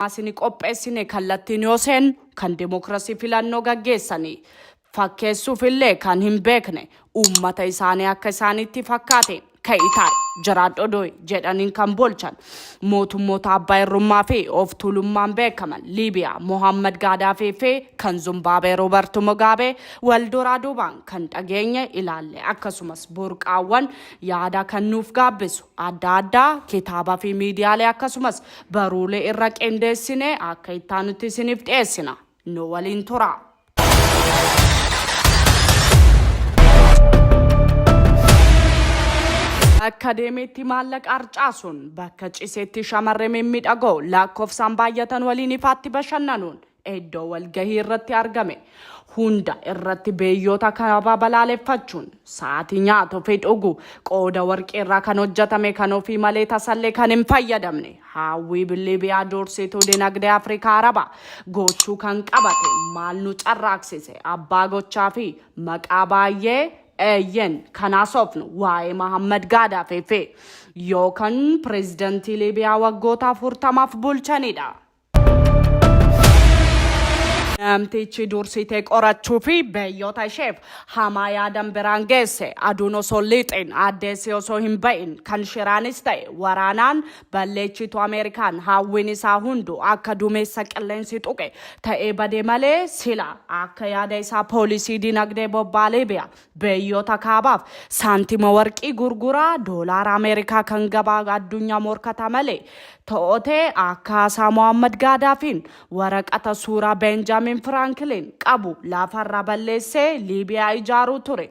Asini qopheessine kallattiin yoo seennu kan demokrasii filannoo gaggeessani fakkeessuuf illee kan hin beekne uummata isaanii akka isaaniitti fakkaateen ka'i taa'i jiraadhu odoi jedhaniin kan bolchan mootummoota abbaa irrummaa fi of tuulummaan beekaman Liibiyaa Mohammad Gaadaafii fi kan Zumbaabee Roobart Mogaabee wal duraa duubaan kan dhageenye ilaalle akkasumas burqaawwan yaada kan nuuf gaabbisu adda addaa kitaabaa fi miidiyaalee akkasumas Baruulee irra qindeessinee akka ittaanutti isiniif dhiyeessina. Nu waliin turaa. Bakka deemeetti maallaqa harcaasuun, bakka ciseetti shamarree mimmiidhagoo lakkoofsaan baay'atan waliin ifaatti bashannanuun, Iddoo walgahii irratti argame hunda irratti beeyyoota kaabaa balaaleffachuun, sa'aatii nyaatu fi dhugu qooda warqii irraa kan hojjatame kan ofii malee tasallee kan hin fayyadamne, haawwii billii biyaa duursituu dinagdee Afrikaa Arabaa goochuu kan qabate maal nu carraaksise abbaa gochaa fi maqaa baayyee, eeyyen, kan haasofnu waa'ee Mahammad Gaadaafii fi yookan prezidantii Liibiyaa waggoota 40f bulchanii dha. Namtichi dursitee qorachuu fi beeyyota isheef hamaa yaadan biraan geesse aduun osoo liixin addeessi osoo hin ba'in kan shiraanis ta'e waraanaan balleechitu Ameerikaan hawwiin isaa hundu akka dumeessa qilleensi tuqe ta'ee bade malee sila akka yaada isaa poolisii dinagdee bobbaa Liibiyaa Biyyoota kaabaaf saantima warqii gurguraa doolaara Ameerikaa kan gabaa addunyaa morkataa malee to'ote akkaasaa Mohammad Gaadaafiin waraqata suuraa Beenjaamin Firaanklin qabu lafarraa balleessee Liibiyaa ijaaruu ture.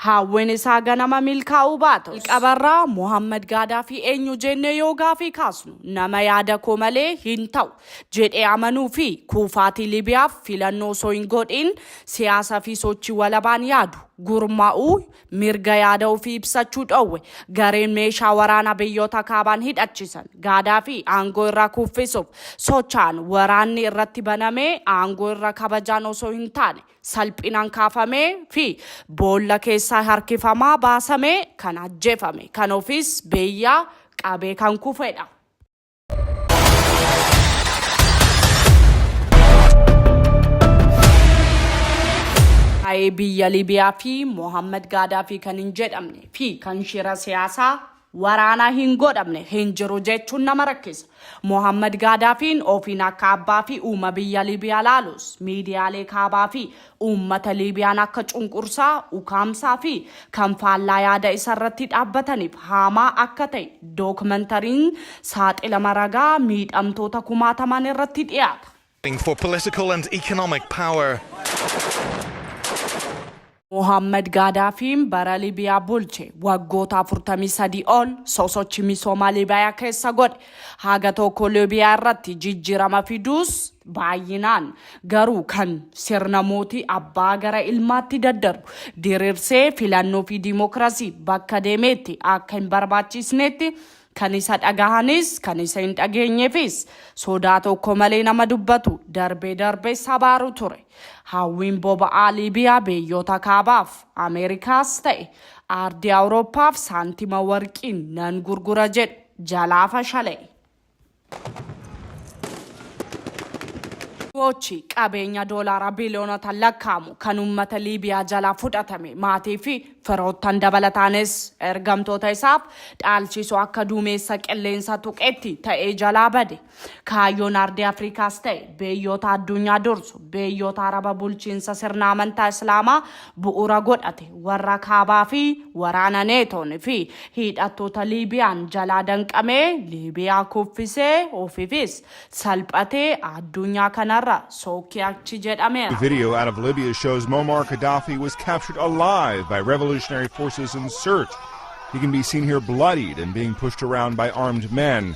Hawwiin isaa ganama milkaa'uu baatus. Jalqabarraa Mohammad Gaadaafii eenyu jennee yoo gaafii kaasnu nama yaada koo malee hin ta'u jedhee amanuu fi kuufaatii Libiyaaf filannoo osoo hin godhiin siyaasa fi sochii walabaan yaadu, gurma'uu, mirga yaada ofii ibsachuu dhoowwe. Gareen meeshaa waraanaa biyyoota kaabaan hidhachiisan Gaadaafii aangoo irraa kuuffisuuf socha'an waraanni irratti banamee aangoo irra kabajaan osoo hin taane salphinaan kaafamee fi boolla keessaa harkifamaa baasamee kan ajjeefame, kan ofiis beyyaa qabee kan kufedha. Waa'ee biyya Libiyaa fi Mohammad Gaadaafii kan hin jedhamne fi kan shira siyaasaa waraanaa hin godhamne hin jiru jechuun nama rakkisa. Mohammad Gaadaafiin ofiin akka abbaa fi uuma biyya Libiyaa laalus miidiyaalee kaabaa fi Uummata Liibiyaan akka cunqursaa, ukaamsaa fi kan faallaa yaada isa irratti dhaabbataniif haamaa akka ta'e dookmantariin saaxilama ragaa miidhamtoota kumaatamaan irratti dhiyaata. for political and economic power. Mohaammed Gaadaafiin bara Libiyaa bulche waggoota 43 ol sosochi misoomaa Libiyaa keessa godhe haga tokko Libiyaa irratti jijjiirama fiduus Baay'inaan garuu kan sirna mootii abbaa gara ilmaatti daddarbu diriirsee filannoo fi diimokiraasii bakka deemeetti akka hin barbaachiisneetti kan isa dhagahanis kan isa hin dhageenyeefis sodaa tokko malee nama dubbatu darbee darbees abaaru ture. Hawwiin boba'aa Liibiyaa biyyoota kaabaaf, Ameerikaas ta'e aardii Awurooppaaf saantima warqiin nan gurgura jedhu jalaa fashala'e. Gochi qabeenya doolaara biliyoonota lakkaa'amu kan uummata Liibiyaa jalaa fudhatame maatii fi firoottan dabalataanis ergamtoota isaaf dhaalchisu akka duumeessa qilleensa tuqetti ta'ee jalaa bade. Kaayyoon Ardii Afrikaas ta'e beeyyoota adduunyaa dursu beeyyoota Araba bulchiinsa sirna amantaa Islaamaa bu'uura godhate warra kaabaa fi waraana neetoon fi hiidhattoota Liibiyaan jalaa danqamee Liibiyaa kuffisee ofiifis salphatee aadduunyaa kanarra sookki achi jedhameera. Video out of Libya shows Muammar Gaddafi was captured alive by revolutionary forces in search. He can be seen here bloodied and being pushed around by armed men.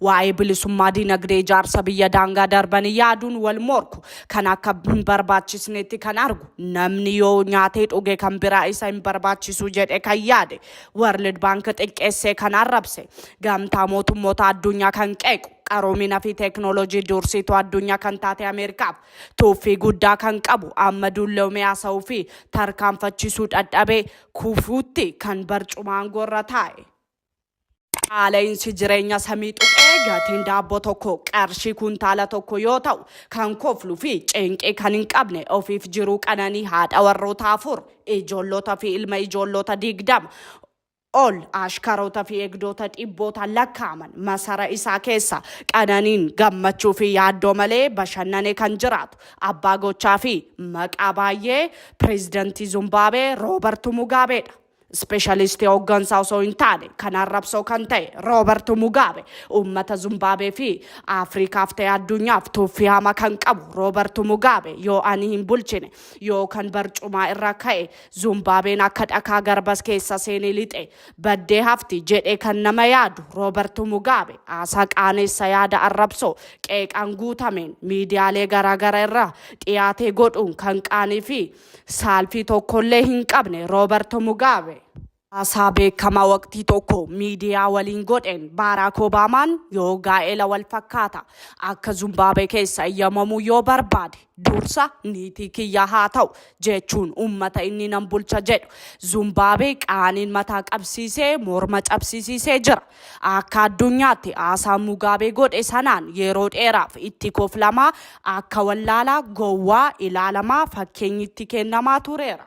Waa'ee bilisummaa dinagdee ijaarsa biyya daangaa darbanii yaaduun wal morku. Kan akka hin barbaachisneetti kan argu. Namni yoo nyaatee dhuge kan biraa isa hin barbaachisu jedhe kan yaade. World Bank xiqqeessee kan arrabse. Gamtaa mootummoota addunyaa kan qeequ. Qaroomina fi teeknooloojii dursiituu addunyaa kan taate Ameerikaaf tuuffii guddaa kan qabu amma dulloomee haasa'uu fi tarkaanfachisuu dhadhabee kufuutti kan barcuma aangoo irra taa'e. Qaala'insi jireenya samii tuqee gatiin daabboo tokko qarshii kuntaala tokko yoo ta'u, kan koflu fi cinqii kan hin qabne ofiif jiruu qananii haadha warroota afur, ijoollota fi ilma ijoollota digdama ol, ashkaroota fi eegdoota dhibbootaan lakkaa'aman masara isaa keessa qananiin, gammachuu fi yaaddoo malee bashannane kan jiraatu abbaa gochaa fi maqaa baay'ee Pireezidantii Zumbaabee Roobartu Mugaabeedha. Ispeeshalistii hooggansaa osoo hin taane kan arrabsoo kan ta'e Roobartu Mugaabe uummata Zumbaabee fi Afrikaaf ta'e addunyaaf tuuffii hama kan qabu Roobartu Mugaabe yoo ani hin bulchine yoo kan barcumaa irra ka'e Zumbaabeen akka dhakaa garbas keessa seene lixe baddee hafti jedhee kan nama yaadu Roobartu Mugaabe haasaa qaaneessa yaada arrabsoo qeeqaan guutameen miidiyaalee garaagara irra dhiyaatee godhuun kan qaanii fi saalfii tokkollee hin qabne Roobarto Mugaabe. Haasaa beekamaa waqtii tokko miidiyaa waliin godheen Baaraak Obaamaan yoo gaa'ela wal fakkaata akka Zumbaabee keessa eyyamamuu yoo barbaade dursa niitii kiyya haa ta'u jechuun uummata inni nan bulcha jedhu Zumbaabee qaaniin mataa qabsiisee morma cabsisiisee jira. Akka addunyaatti haasaa Mugaabee godhe sanaan yeroo dheeraaf itti koflamaa, akka wallaalaa, gowwaa, ilaalamaa, fakkeenyi itti kennamaa tureera.